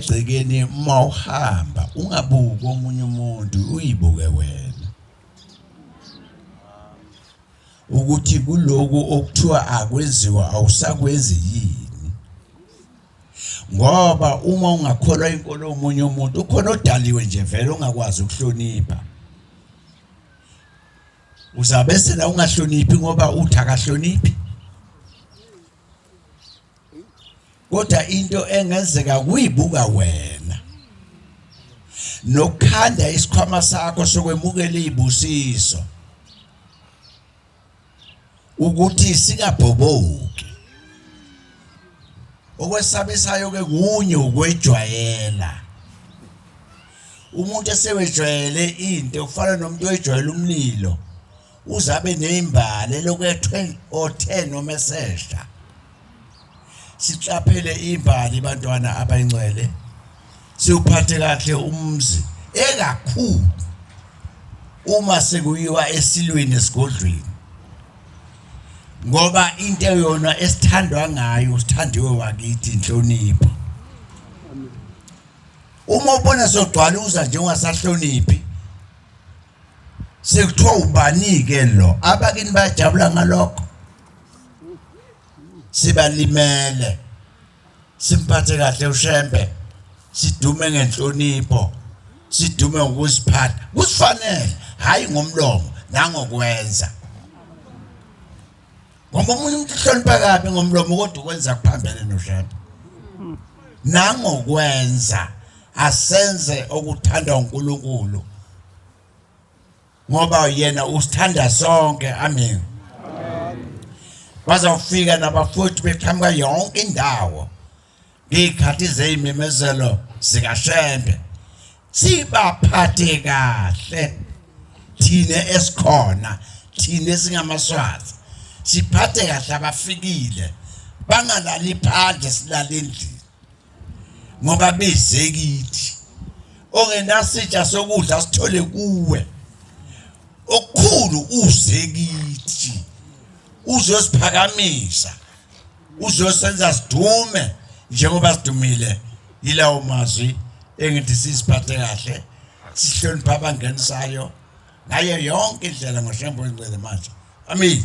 egcekeni uma uhamba ungabuki omunye umuntu uyibuke wena ukuthi kuloku okuthiwa akwenziwa awusakwenzi yini ngoba uma ungakholwa inkolo omunye umuntu ukhona odaliwe nje vele ongakwazi ukuhlonipha uzabese la ungahloniphi ngoba uthi akahloniphi kodwa into engenzeka kuyibuka wena nokukhanda isikhwama sakho sokwemukela izibusiso ukuthi singabhoboki okwesabisayo ke kunye ukwejwayela umuntu esewejwayele into kufana nomuntu oyijwayele umlilo uzabe nezimbali elokwethwe o-10 noma esesha siqaphele imbali bantwana abayingcwele siwuphathe kahle umzi ekakhulu uma sekuyiwa esilweni esigodlweni ngoba into yona esithandwa ngayo sithandiwe wakithi inhlonipho uma ubona sogcwala uza njengoba sahloniphi sekuthiwa ubani-ke lo abakini bayajabula ngalokho sibalimele simphathe kahle ushembe sidume ngenhlonipho sidume ngokusiphatha kusifanele hhayi ngomlomo nangokwenza ngoba omunye umuntu uhlonipha kabi ngomlomo kodwa ukwenza kuphambene noshada nangokwenza asenze okuthandwa uNkulunkulu ngoba yena usithanda sonke amen bazawufika nabafowethu beqhamuka yonke indawo ngey'khathi zey'memezelo zikashembe sibaphathe kahle thina esikhona thina esingamaswazi siphathe kahle abafikile bangalali phandle silale endlini ngoba beze kithi ongenasitsha sokudla sithole kuwe okukhulu uze kithi uzosiphakamisa uzosenza sidume njengoba sidumile yilawo mazwi engithi siziphathe kahle sihlonipha abangenisayo ngayo yonke indlela ngoshembo ingcwele manje amen